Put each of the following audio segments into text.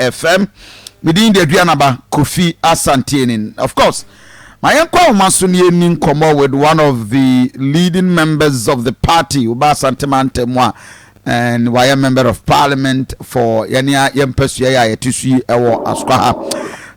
FM, me din de Aduana ba Kofi Asanteenin. Of course, ma yɛnkɔ ahoma so na yɛnni nkɔmmɔ with one of the leading members of the party, woba Asante Mantam mu a, and wayɛ member of parliament for yɛne a yɛn mpasua yɛ a yɛte so yi wɔ Asukwa ha.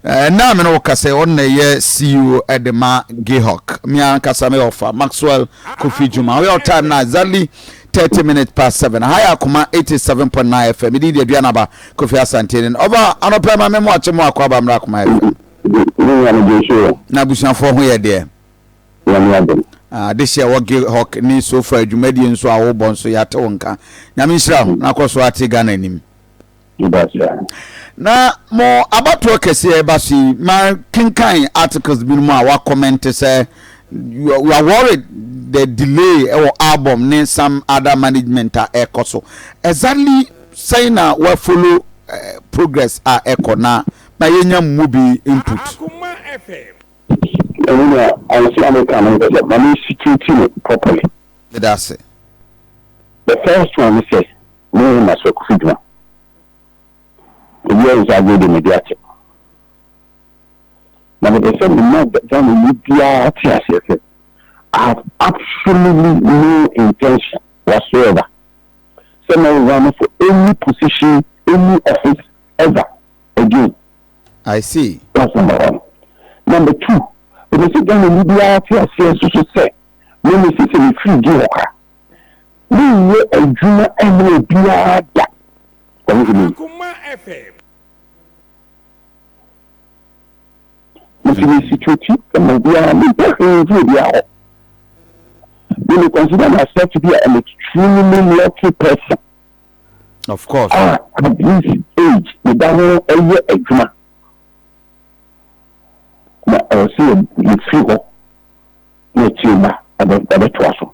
Ɛnna a me ne wo kasa yi, ɔno na ɛyɛ CEO de ma Gihawk. Me ankasa meyɛ ɔfa Maxwell Kofi Juma. Woyɛ ɔtan na exactly thirty minutes past seven. Aha yɛ akoma eighty seven point nine FM. Me din de Aduana ba Kofi Asante nin. Ɔfa anɔpa yi ma me moakye mo akɔ aba mmra Kumai FM. Ne nua no gye so yɛ. Na abusuafoɔ ho yɛ deɛ. Nyame adom. Ah, adehye ɛwɔ Gihawk ne sofa adwumadie nso a wobɔ nso yɛate wo nka. Nyame nhyira wo na kɔ so ara te Ghana anim. Na mo abatoɔ kɛseɛ ɛba so yi, makenkan articles binom a wakɔmɛnte sɛ you are, you are worried the delay ɛwɔ album ne some other management a ɛkɔ so. Exactly Sɛn na wa follow progress a ɛkɔ na ma yɛnya mu bi input. Ɛno na ansa a meka no mpɛ sɛ ma me situate no properly. Meda ase. The first one ne sɛ me ne Nnaso Akuffo Dwuma yɛɛ nsa agorɔ deɛ madi ate. Na mepɛ sɛ me ma Ghana ni biara te aseɛ sɛ I have absolutely no intention whatsoever sɛ na ɔyɛ one for any position any office ever again. I see. That's number one. Number two, ɛsɛ sɛ Ghanani biara te aseɛ nso so sɛ me mese sɛ mefiri gye hɔ ka. Menyɛ adwuma ɛma obiara da. Wahunu? Nti mesi kyerɛti ma obiara, mempɛ hwee mfiri obiara hɔ. Me me consider myself to be an extremely lucky person. Of course. Ah, at this age, me da ho ɛyɛ adwuma. Na ɛwɔ sɛ yɛfiri hɔ na akyire mma ɛbɛtoa so.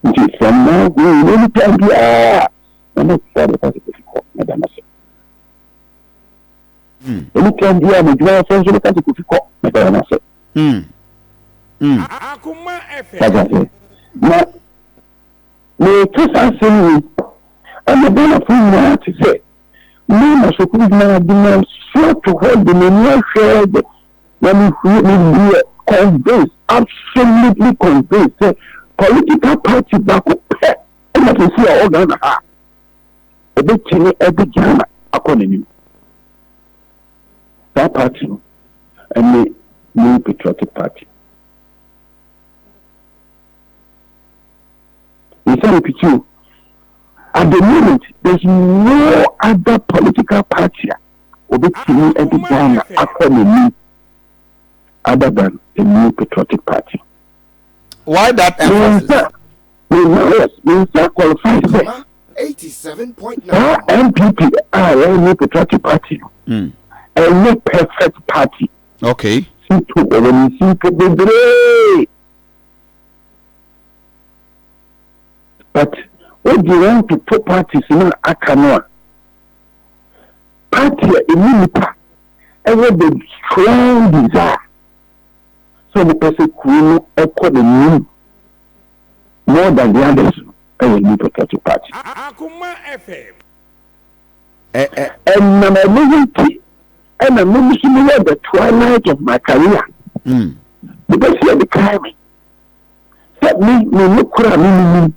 Nti from now going, anytime biara, na mɛtoa bɛkɔ sɛ bɛfi hɔ na da no ase. ɛmu kura biara na adwuma yɛsɛ nso bɛka sɛ kofi kɔ na bɛyɛ no ase wagya sɛ na meka saa asɛm yi ɛna ghanafo nyinaa te sɛ mama sukuu nyinaa de ma so to hɔ de m'ani ahwɛ de na mehwie mehwie convince absolutely convince sɛ political party baako pɛ ɛna kɛsi a ɔghana ha obetumi de Ghana akɔ n'anim. Saa party no ne New Patriotic Party. Nsɛm piti o. At the moment, there's no other political party a obetumi de Ghana akɔ n'anim other than the New Patriotic Party. Why that emphasis? Mensa, Mensa, Mensa qualified sɛ saa NPP a wɔn new patriotic party no hmm. ɛnyɛ perfect party. Okay. Sito wɔn ne simpo bebree. But wodi wɔn toto parties no aka no a party a ɛmu nipa ɛwɔ the strong desire sɛ wopɛ sɛ kuro no kɔ n'anim more than the others no, ɛyɛ new patriotic party. Akoma FM. Ɛnam ɛno ho nti ɛna me nso me wɔ the twilight of my career. Me bɛ si ɛde kae me sɛ me me ne koro a me nini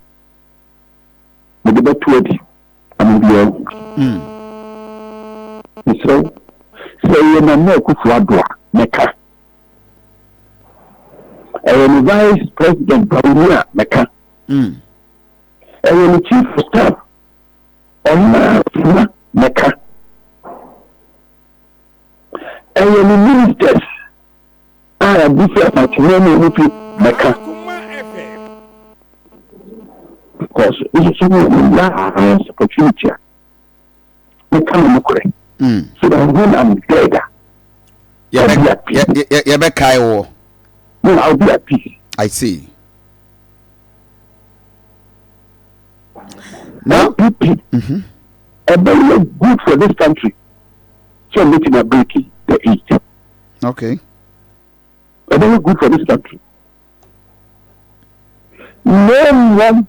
me de bɛto adi ama bi ahu. Mesrɛ sɛ ɛyɛ na mɛ akufu adoa mɛka. ɛyɛ ne vice president bawoni a mɛka hmm. ɛyɛ ne chief of staff ɔmaa sima mɛka ɛyɛ ne ministers a yɛde sɛ ɔtena mu ɔmo fi mɛka because nsusu mu ɔmo yɛ a ayɛ security a. meka mo nokorɛ mm. so that when I'm dead a yɛbɛkae wɔ no I'll be at peace I see now LPP mm-hmm. ɛbɛyɛ good for this country so meeting a breaking the eight okay ɛbɛyɛ good for this country Na mmom,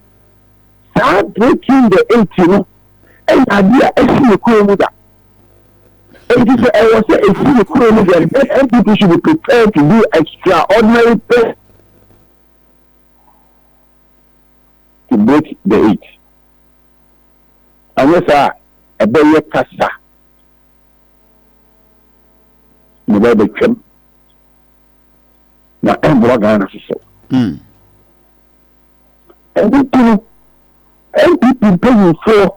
saa breaking the eight no nyɛ adeɛ a ɛsi ne kuro mu da. Enti sɛ ɛwɔ sɛ ɛsi ne kuro mu deɛ, then NPP should be prepared to do extraordinary things to break the eight. Anyɛ saa a, ɛbɛyɛ kasa na ɛbɛyɛ bɛtwam. na ɛmmoa Ghana soso. Mm. Ɛno nti no, NPP mpanyinfoɔ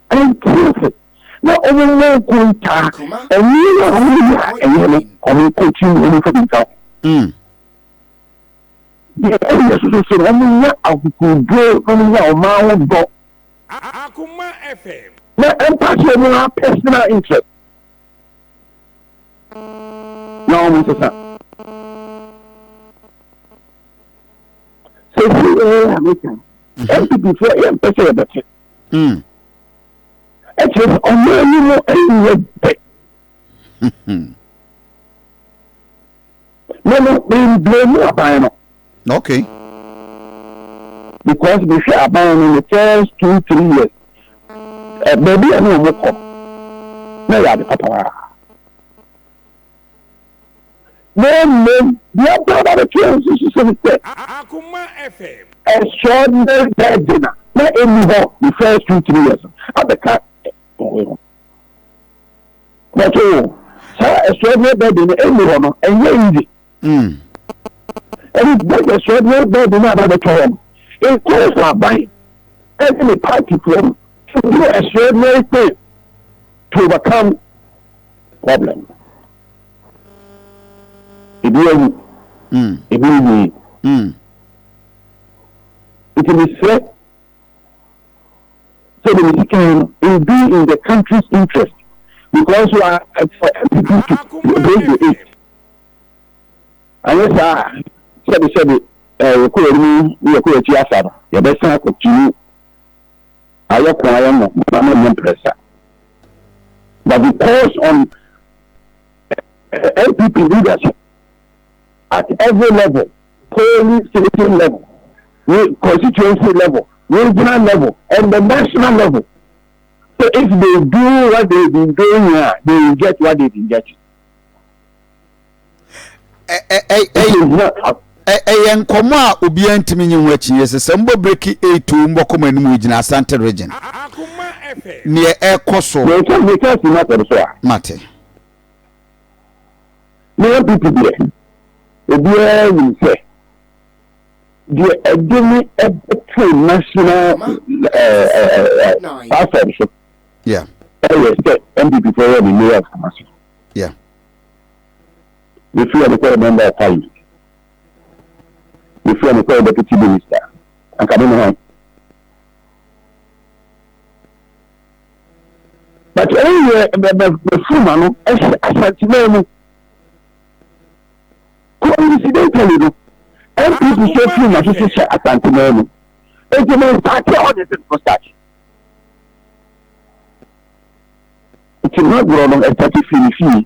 ɛnti ase na wɔn mmɔ nko ntaa nneɛma a wɔn yɛ a ɛnyɛ no wɔn nkɔkyi mu wɔn mfa bi nka ho. Mm. Deɛ ɛyɛ soso sɛ wɔn nyɛ akokoɔduro na wɔn nyɛ ɔman ho dɔ. Akuma FM. Na ɛmpa sɛ wɔn apɛsena interest. na wɔn nsesa. Sisi yɛ a meka ntutufoɔ yɛ mpɛ sɛ yɛbɛte. Ɛkyerɛ sɛ ɔmo anim ɛnyɛ pɛ. Me no, me mblame aban no. Okay. Because me hwɛ aban no the first two three years. Eh, baabi a ne wɔn kɔ na yɛ ade papa paa. Na mmom deɛ ɔbaa ba bɛtwerɛ nso so sɛ ne sɛ Akoma FM. extraordinary burden a na ɛnni hɔ the first two three years abɛka wɔn ho. bɔtɔ o saa ɛsɔɔdeɛ bɛɛbi no ɛnni hɔ no ɛnyɛ easy ɛne bɛn ɛsɔɔdeɛ bɛɛbi no aba bɛtɔ hɔ no ɛkɔɔ sɛ aban ɛne ne paatifoɔ no ɛduru ɛsɔɔdeɛ ɛkpɛ to overcome problem ebi awu ebi nwie nti mesrɛ sɛdeɛ mesi kan no it will be in the country's interest because wa ɛfɔ ɛpipi ɛbɛyɛ eight anyɛ saa sɛde sɛde ɛɛ yɛkɔ yɛn mu ne yɛkɔ yɛn akyi afa no yɛbɛsan akɔ tunu ayɛ ko ayɛ mo na mo nyɛ mprɛsa but because on ɛɛ ɛpipi leadership at every level. Polling station level ne constituency level, regional level and the national level. So if they do what they've been doing here, they will get what they've been getting. ɛyɛ nkɔmɔ a obiara ntumi nye ho akyinnye sɛ sɛ mbɔ breki eight o mbɔ kɔma anim gyina asante region neɛ ɛkɔ so. mɛka mɛka si ma tɛm so a. mate. Ne NPP deɛ, obiara nim sɛ deɛ ɛde ne ɛbɛto national platform so ɛyɛ sɛ NPP fo yɛ ne mayor of Kumasi. Mefiri ɛno kɔyɛ member of parliament. Mefiri ɛno kɔyɛ deputy minister. Anka me ne hwan? but ɛno yɛ bɛfuru ma no ɛhyɛ asanteman mu coincidentally no npp sɛ furu ma so so hyɛ asanteman mu nti mo nsaate a ɔde sɛ no start nti magorɔ no ɛsate firi ne fie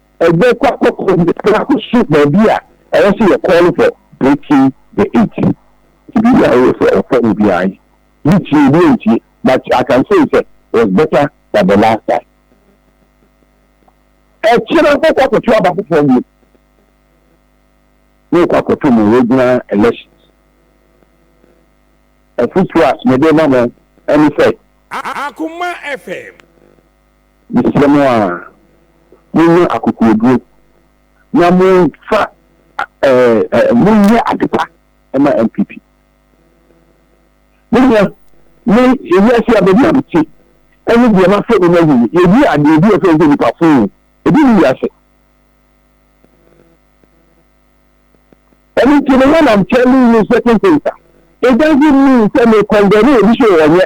Ɛyɛ kwa kɔkɔɔ bi a akɔsu baabi a ɛwɔ sɛ yɛ call for breaking the eight. Nti biribi a woyɛ sɛ ɔfɔ no biara yi, bi tie bi ntie but I can say sɛ it was better than the last time. Ɛkyerɛ kɔ kɔ akɔto aba foforɔ bio. Ne kɔ akɔto mu regional elections. Ɛfotuo a mede ma mo ɛne sɛ. Akoma FM. Mesrɛ mo ara, monnya akokoɔduro, na momfa eh, monyɛ adepa ma NPP. Me nua, me wiase a baabi a mete, ɛne deɛ mafa mu no ahu no, yɛdi adeɛ bi a ɛfɛ sɛ nipa foo, ebi ne wiase. Ɛno nti no, when I'm telling you certain things, it doesn't mean sɛ me condemn obi sɛ ɔnyɛ.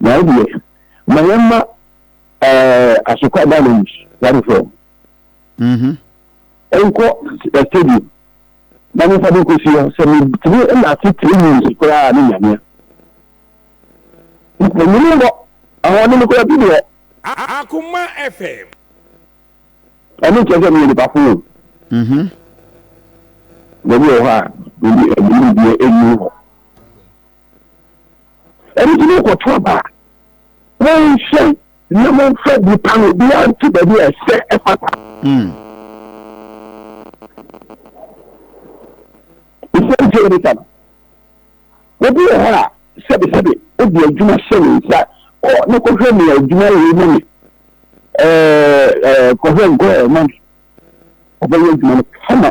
Na wo deɛ, ma yɛn mma asokwa da no mu, wari fam. Nkɔ stadium na mo fa bi kɔsi hɔ sɛ metumi na ase three minutes koraa ne nyamea. Onyini mbɔ ahoɔden no koraa bi deɛ. Akoma FM. Ɛno nkyɛn sɛ meyɛ nipa fo. Baabi wɔ hɔ a, ɛnyini deɛ ɛnyini hɔ. Ɛno nti mokɔto aba a, monhwɛ na momfa bi pa no obiara nto baabi a ɛsɛ ɛfata. Ɛsiane hmm. sɛ yɛbisa no, obi wɔ hɔ a sɛbesɛbe wode adwuma hyɛ ne nsa kɔ na kɔhwɛ nea adwuma wei ma me kɔhwɛ nkɔɛ ma me ɔbɛyɛ adwuma no kama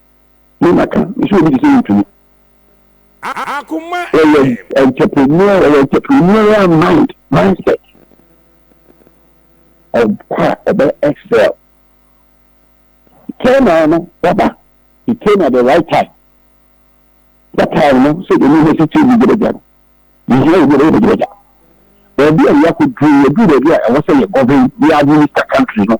Mo na ka. Mese obi te sɛ wontumi. Akoma eh. Wɔyɛ entrepreneur, wɔyɛ entrepreneurial mind, mindset. Ɔkɔ a ɔbɛ excel. Train na no, waba. He came at the right time. That time no, sɛ ɛmu hɛ sɛ sɛ ɛmu gyerɛ gyerɛ. Yɛhia yɛ mu gyerɛ gyerɛ gyerɛ. Baabi a yɛakɔ duru, yɛduru baabi a ɛwɔ sɛ yɛ govern, yɛ administer country no.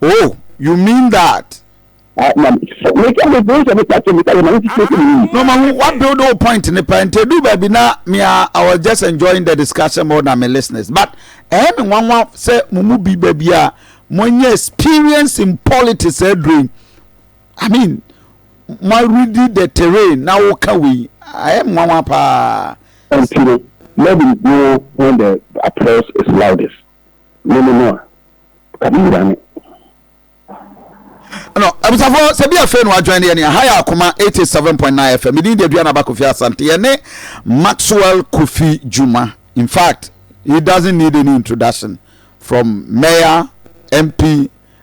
Oh, you mean that? Ah, na me ka me bro sɛ me ka sɛ me ka yɛ ma ne titi ɛkɛ mi. No, ma hu wa build o point ne pɛ nti edu baabi na me a I was just enjoying the discussion more than my listeners but ɛyɛ me nwanwa sɛ mo mu bi baabi a mo nyɛ experience in politics aduro I mean mo already the terrain na woka wei ɛyɛ me nwanwa paa. Ɛnti no let him go when the applause is loudest. Me ne no a, ka me wura ne. No, abusafoɔ sɛ bi afei no adwan ne yɛne ha yɛ akoma 87.9 fm medin de aduana ba kofi asante yɛne maxwell kofi juma in fact he doesn't need any introduction from mayor mp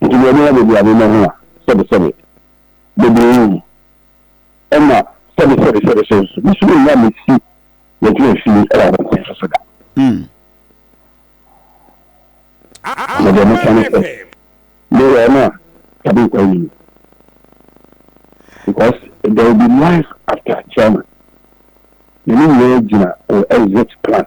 Nti deɛ ɛbɛyɛ baabi a memmɛ ho a, sɛbesɛbe bɛbɛwu, ɛnna sɛbesɛbesɛbe so nso, me so mennya me ti mɛtena fie wɔ abɔnten so so da. Na deɛ meka ne sɛ, meyɛ ɔno a dabi nkwa nni mu. Because there will be life after chairman, na ne nyinaa gyina wɔ exit plan.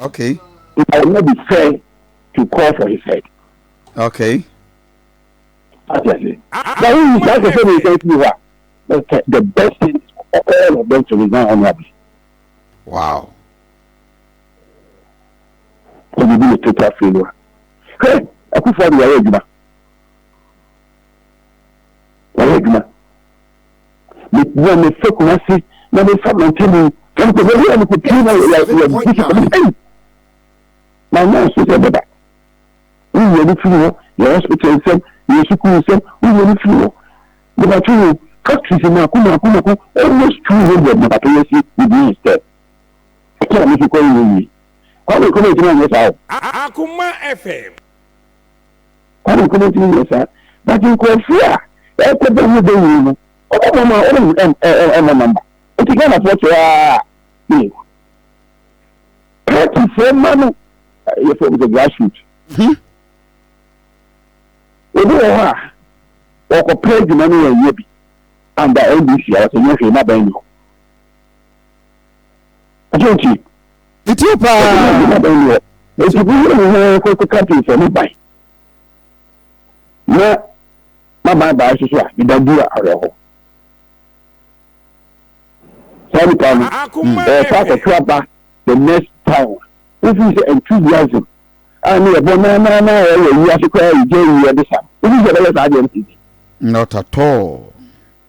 Okay. It will not be fair to call for his head. Okay. Ati ase. Na wo yi saa sɛ mi sɛ ti hɔ a, the best thing is for all of them to resign honorably. Wow. Sɛ mi bi mi total failure. Hɛ, akufo adi wɔyɛ adwuma. Wɔyɛ adwuma. mepia mefa kumase na mefa mantani ɛnti bɛbi a mekɔpie na yɛdi sika mese ei ma nyɛ nso sɛ bɛba woyɛ no firi hɔ yɛ hospital nsɛm yɛ sukuu nsɛm woyɛ no firi hɔ mebatwe wo factories mako mako mako almost two hundred mebatwe yɛ si within a step ɛtɔ a mefi kɔ yɛ yie kwa mekɔ mɛntimi anyɛ saa o Akoma FM Kwan baako na wotumi yɛ saa. But nkurɔfoɔ a ɛrekɔbɔ ho dawuro no, wɔbɛbɔ ma wɔmmɔ number. Nti Ghanafoɔ sɛɛ ara a, ee. Partyfoɔ mma no, yɛfrɛ no sɛ grassroot. Obi wɔ hɔ a, wɔkɔpɛ adwuma no wɔnyɛ bi. Under NDC a wɔsɛ nyɛ hwee, n'abɛn ni hɔ. Ɛsɛ nti. Metie paa. Ɛti bi yɛ ne ho kɔkɔ kapin sɛ mo ban. Na ma ban ban soso a, meda dura awerɛho. Saa nipa no, ɛyɛ saa kɔkora ba the next town. Wofi sɛ enthusiasm a ne yɛbɔ na na na ɛyɛ wiase koraa yɛ gya yi yɛde sa. Wofi sɛ ɛbɛyɛ saa deɛ no ti. Not at all.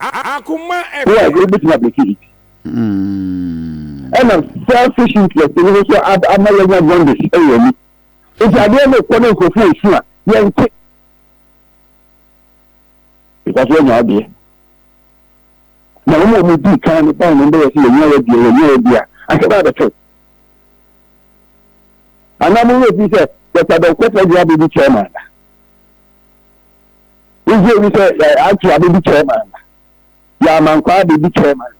Wo a, ɛdeɛ wobɛtumi abreake it. Ɛna selfish interest no nso ama yɛanya jaundice wɔ yɛn ani. Nti adeɛ no rekɔ na nkurɔfoɔ resu a, yɛnte. Because yɛanya wo deɛ. Na wɔn a wɔdii kan no bae no bɛyɛ sɛ yɛnya yɛ deɛ, yɛnya yɛ deɛ a, asɛ bɛa bɛtew. Anaa mo werɛ fii sɛ Dɔkta Dɔnkɔ Pɔgye abɛdi chairman da? Wohwɛ mu sɛ yɛ aunty abedi chairman na yɛ amankwaa abedi chairman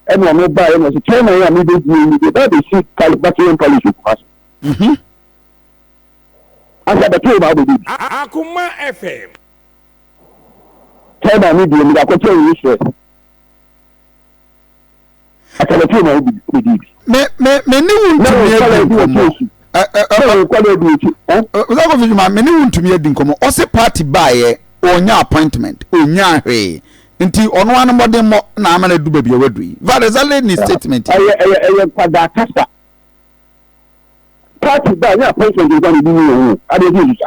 ɛna ɔmo baa yɛ na ɔsɛ chairman yɛ a mi bedi yɛ yi de bɛɛ bɛ si pali bati yɛn pali si kuma so. Mhm. Asa bɛtɔ ɔmo abedi bi. Akoma FM. Chairman mi deɛ mi de akɔkyɛ yɛ yi stress. Akanafie na wobɛdii bi. Me me me ne wo ntumi adi nkɔmmɔ. Ɔsakɔfi Juma me ne wo ntumi adi nkɔmmɔ. Ɔse party baeɛ ɔnya appointment ɔnya hwee nti ɔno ano mmɔdemmɔ na ama no adu baabi a wadu yi. That is only ne statement. Ɛyɛ ɛyɛ ɛyɛ nkwadaa kasa. Party baeɛ ɔnya appointment nkwa ne bi mu yɛ wo. Adeɛ bi nsusa.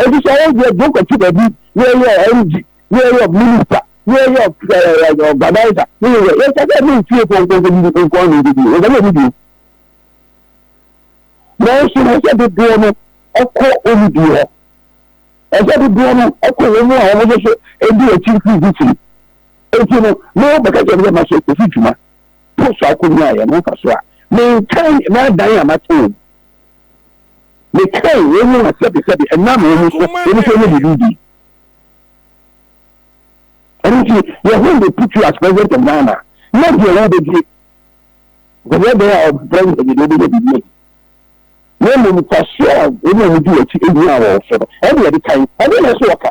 Efisɛ wo deɛ, deɛ wokɔto baabi na yɛyɛ ɔ MD, na yɛyɛ ɔ Minister, na yɛyɛ ɔ ɛɛ Organiser, na yɛyɛ yɛnka sɛ ɛne wo fiefoɔ nko nkɔdidi nko ara na yɛbɛdi no, yɛnka sɛ yɛbɛdi o. Nanso ɛsɛ sɛ dodoɔ no kɔ wɔn die hɔ. Ɛsɛ sɛ dodoɔ no kɔ wɔn a wɔn nso so di akyi firi di firi. Eti no, na wɔbɛka kyerɛ me sɛ mahyɛ kofi dwuma. Post akonnwa a yɛn ho fa so a, menkan m'adan a mate wɔn. Mekae wɔn mu a sɛbesɛbe ɛnam wɔn so wɔn nso nyɛ biribi bi. Ɛno nti, yɛn ho de put you as president of Ghana. Na deɛ wobɛdie, bɛyɛ bɛyɛ a ɔbrɛ yɛ deɛ wobɛyɛ biribi ayi. Na mmom mfasoɔ a wɔn a wɔdi wɔakyi ɛhia a wɔn so no, ɛne yɛde kan. Ɛne na ɛso ɔka.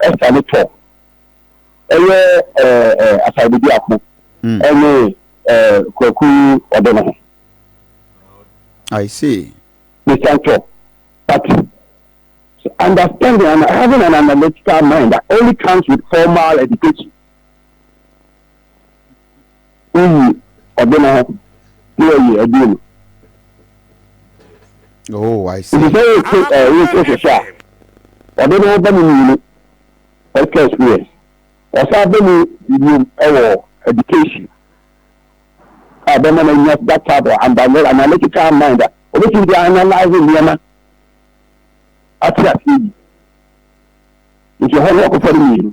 Ɛsa ne tɔ ɛyɛ Asaade biako ɛne Kwaku ɔde ne ho. I see. Ne san tɔ but understanding and having an analytical mind that only comes with formal education. woyi ɔde no hɔ na wɔyi aduro no. Oh, I see. Nti sɛ wote ɛɛ wote hwehwɛ a, ɔde no ba mu mmienu ɛka experience. Ɔsan ba mu mmienu ɛwɔ education a bɛma no anya that type of analytical mind a obetumi de analyze nneɛma ate aseɛ yi. Nti ɛhɔ no wɔkɔfa no mmienu.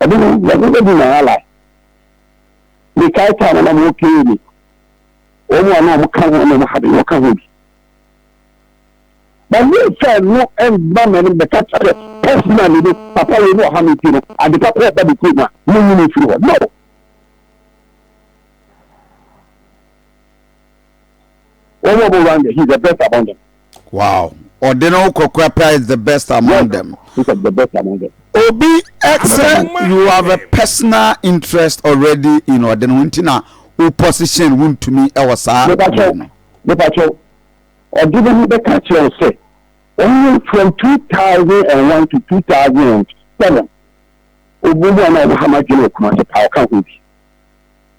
ɛno no na ɛno bɛdi na hala mekae taa na na mo kee me wɔn a na wɔn ka ho na wɔn ha de wɔn ka ho bi na wɔn fɛ no ɛnba mɛ no bɛka kyerɛ pɛsina ne bi papa wɔ mu ɔha mi ti no ade papa ɛba de kuro mu a mo nyini firi hɔ no. Wɔn a wɔwɔ Rwanda, he is the best among them. Wow. Ɔde ne ho kɔkora paa is the best among yes, them. He is the best among them. Obi ɛsɛ you have a personal interest already in ɔde ne ho nti na wo position wuntumi ɛwɔ saa. Mepakyɛw mepakyɛw ɔde ne ho bɛka kyerɛ wo sɛ wɔn from two thousand and one to two thousand and seven obi mu a na ɔwɔ ha ma dwene okuma sɛ paa ɔka ho bi.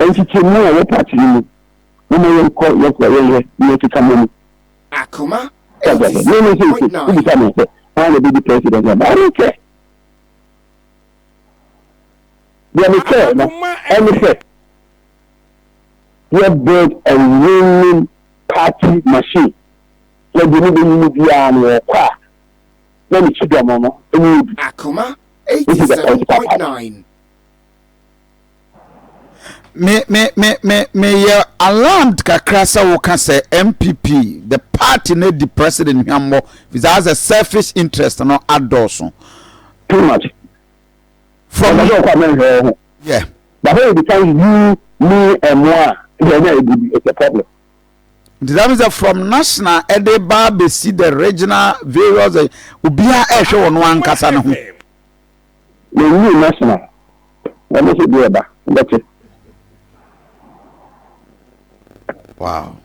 Nkyekyɛmu a ɛwɔ part yi mu. Momma yɛnkɔ yɛn kɔ yɛn yɛ nea ɛkeka mo mu. Akoma eighty six point nine. Wobisa me sɛ hwan na obedi president ama I don't care. Deɛ me care no ɛne sɛ yɛ build a winning party machine. Sɛ deɛ mobɛnyini biara no ɔkɔ a na ne kyidɔm no ɛnyɛ bi. Akoma eighty seven point nine. me me me me meyɛ alarmed kakra sɛ woka sɛ mpp the party no di president hwammɔ fisa asɛ selfish interest no adɔɔso too much from ɔsɛ ɔkɔ amɛnhwɛ wɔ ho yeah but when it becomes you me ɛmo a ɛsɛ ɛna ɛdi bi it's a problem nti that means from national ɛde ba bɛsi the regional various obiara ɛhwɛ wɔn ankasa no ho Yɛnwui National na ɔno nso deɛ ɛba wobɛte. Wow.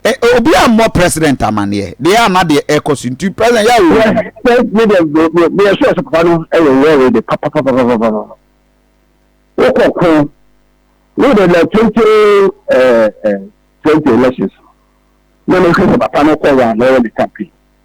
Eh, obi a mmɔ president amaneɛ deɛ a na deɛ ɛkɔ so nti president yɛ awo. me deɛ meyɛ sure sɛ papa no ɛyɛ wɔre de papapapapapa wokɔ ko wo de na twenty twenty elections na mehwɛ sɛ papa no kɔ wɔ a na ɔyɛ ne campaign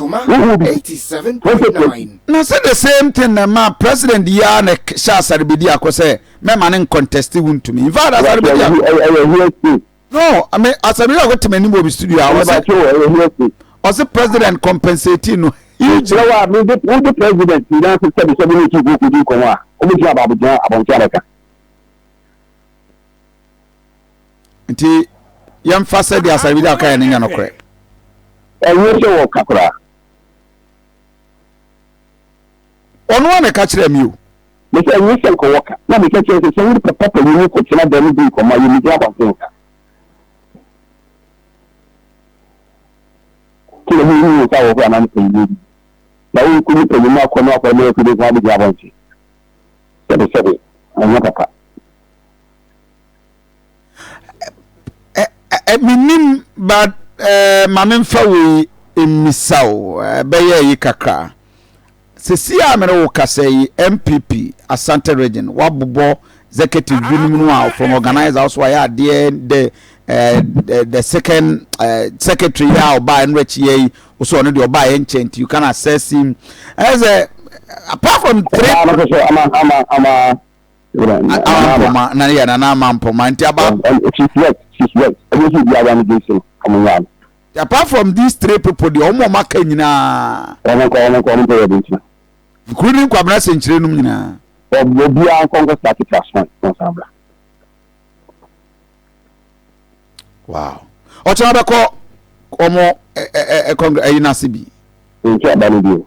Wohu bi? Wɔpɛ kwaku. Na sɛ the same thing na ɛmaa president yi ara na ɛhyɛ Asare Bediako sɛ mɛma no nconteste wontumi. In fact Asare Bediako. Ɛyɛ hearsay. No, me Asare Bediako te m'anim wɔ me studio a ɔse Mebakyɛ wo, ɛyɛ hearsay. ɔse president compensate no hugely. Kyerɛ wo a, me de, wo de president ti na ase sɛbi sɛbi ne ti kɔ kɔdi nkɔmɔ a, ɔbɛtumi aba abɛgyina abɔnten abɛka. nti yɛmfa sɛ deɛ asare bi da kaeɛ no nyɛ nokorɛ ɛnyɛ sɛ wɔka koraa ɔno a na ɛka kyerɛ me o mesɛ ɛnyɛ sɛ nka wɔka na meka kyerɛ sɛ sɛ wode papa panyin no kɔtena da no bi nkɔma yɛ megyina abɔnten nka kí ló mú inú ìta wọ̀ fún àmàlẹ́ pẹ̀lú lórí làwọn ikú ní pẹ̀lú máa kọ́ ní ọkọ̀ ẹ̀mọ́ ẹ̀kú ní fún àbíjì abọ́ǹtì sẹ́bẹ̀sẹ́bẹ̀ àwọn pàpà Menim but eh, ma memfa wei mmisa o ɛbɛyɛ yi kakra sɛsi a mene wo kasa yi mpp asante region wabobɔ executive binom no a from organizer also ayɛ adeɛ the eh, the, the second eh, secretary yi a ɔbaa ɛno akyi yɛ yi wosɛ ɔno deɛ ɔbaa yɛ nkyɛn nti you can assess him ɛsɛ apart from three ama ama ama Wura Nana Ama. Amampoma na yɛ Nana Amampoma nti aba. She's right, she's right. Ɛnyɛ sɛ obi awa ne din so no, ɔmo nyaa no. Apart from these three people deɛ ɔmo a ɔmo aka nyinaa. Ɔmo nkɔ, ɔmo nkɔ, ɔmo nkɔ yɛ ɔmo ntina. Kuro ne Nkwabena sɛnkyerɛ nom nyinaa. Obiara nkɔ nkɔ start class one, wɔn san bra. Wow. Ɔkyɛn ɔbɛkɔ ɔmo ɛ ɛ ɛ kɔngre ɛyi n'ase bi. Nti aba no bi o.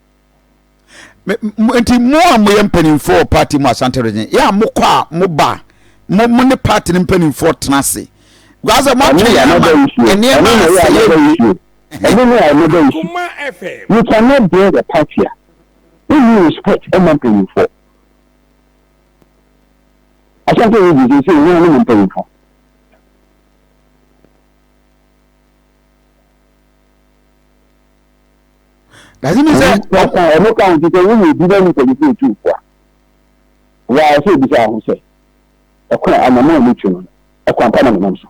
nti mo a moyɛ mpanimfoɔ wɔ party mu asante region yɛ a mokɔ a moba a mo mo ne party no mpanimfoɔ tena ase gbasa mo atwe yɛn ama nneɛma asɛ yɛ wie. ɛno ne a ɛmɛda nsu you cannot build a party a wonni respect ɛma mpanimfoɔ asante region sɛ sɛ ɛnyɛ anom mpanimfoɔ Daze mi sɛ. Wɔka wɔn ka nti sɛ woyɛ obi na nipa nipa etu fo a, wɔayɛ sɛ ebisa ho sɛ, ɛkwan anamɔ a metu no, ɛkwan pa na menam so?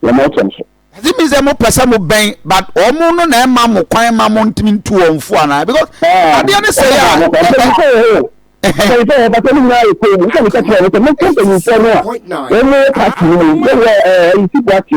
Yɛma ɛkyɛm so. Daze mi sɛ mo pɛ sɛ mo bɛn but wɔn no na ɛma mo kwan ma mo ntumi ntu wɔn fo anaa because ah, adeɛ ne sɛ yɛ a. Mpanyinfoɔ yɛ bàtà mi nyinaa yɛ kɔn mu nfa mi kɛkɛ mi sɛ mi kɛ mpanyinfoɔ no a wɔn yɛ pati mu yɛ wɔ ɛɛ ɛyisi pati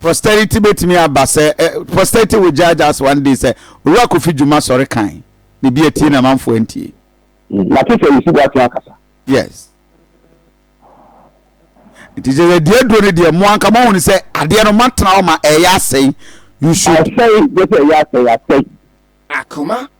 Posterity betumi aba sɛ ɛ Posterity will judge us one day sɛ Owura Kofi Dwuma sɔre kan na ebi atie na amanfoɔ antie. Mate sɛ Owusu Boateng akasa. Yes. Nti kyerɛ sɛ deɛ aduro no deɛ mo anka moahunu sɛ adeɛ no moatena hɔ ma ɛyɛ asɛe. You should. Asɛe, just ɛyɛ asɛe, asɛe. Akoma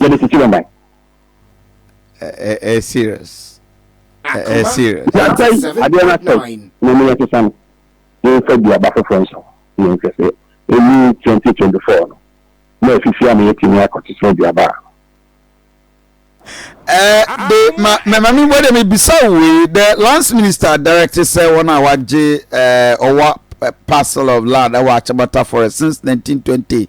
yɛde tete wɔn ban. ɛɛ serious ɛɛ serious. yɛasɛe adeɛ no asɛe na ɛmu yɛsesa no yɛmfa bi aba foforɔ nso yɛn hwɛ sɛ ɛmu 2024 no na afifi ama yɛatumi akɔtete aduaba a Eh, de ma mɛma mi bɔ de mi bisa wei the lands minister directed sɛ wɔn a wagye eh, ɔwa eh, parcel of land ɛwɔ akyɛbata forest since 1920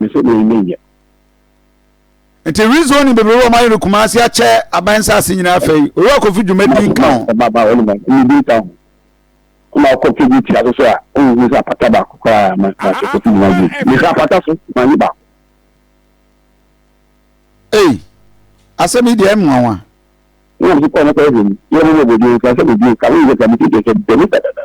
Me sɛ meyɛ nyɛ nyɛ. Nti rezoning bebrebe wɔn ayɛ no Kumasi akyɛ aban nsaase nyinaa fɛ yi Owura Kofi dwumadie nka ho. Ɔba ba wɔn nyinaa dwumadie nka ho. Ɛna ɔkɔ page tia so so a ɔnhu sɛ apata baako koraa ma ma sɛ Kofi dwumadie. Mehwɛ apata so ma nye baako. Ei asɛm yi deɛ ɛnwanwa. Ɛna mese kɔ no kɔ ɛhwɛ mu. Yɛ mo mɔbɔdie nka sɛ medie nka ho yɛ sɛ mete deɛ sɛ dɛmi dadadada.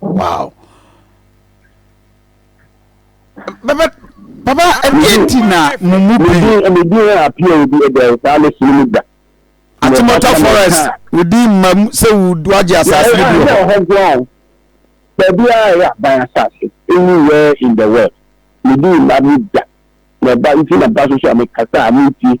wow bɛbɛ papa ɛdeɛ nti na mo mu pii Medin medin a apia obi ɛdɛ saa ne sini mu da. atemɔta forest wodi mma mu sɛ wo- wagye asase no bi wɔ hɔ hɔ goa o. Baabi a ɛyɛ aban asase anywhere in the world. Medi mma mu da. Na ɛba nti na ba so so a mekasa a montie.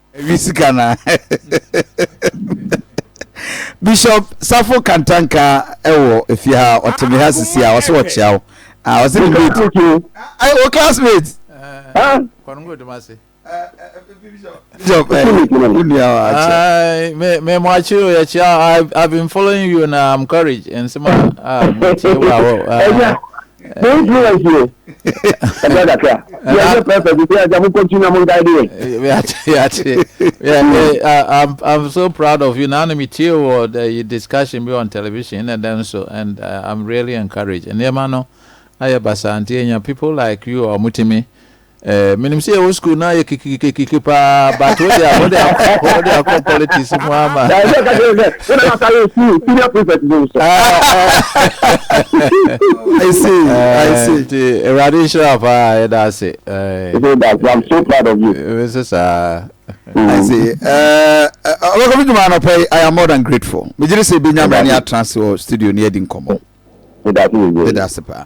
Awi sika na Bishop Safo Kantanka ɛwɔ efie ha ɔte me ha sisi a ɔsɛ ɔkyea wo a ɔsɛ ne mate ayi wɔ classmate Bishop ɛ wo nua wa akyɛ me me mo akyere o yɛkyea I've been following you na I'm courage nsɛm a a mo tie wa wɔ Mo influence yɛ. Ɛbɛ kakra. Yɛ yɛ pɛpɛ bi sɛ ɛdɛ mo kɔntu na mo nkae de yɛ. I'm I'm so proud of you. Now me tie wɔ the discussion be on television and then so and uh, I'm really encouraged. And yɛ ma no ayɛ basa nti yɛ nya people like you a wɔn ti mi Eh, menim sɛ yɛwɔ school na yɛ kikikikiki paa but wode a wode akɔ wode akɔ politics mu ama nti awurade nhyira paa yɛda ase nso saa ɔbɛkɔ me dwuma anɔpɛ yi i am more than grateful megyere sɛ bɛnya mmerɛ ne atena ase wɔ studio ne adi nkɔmmɔ meda ase paa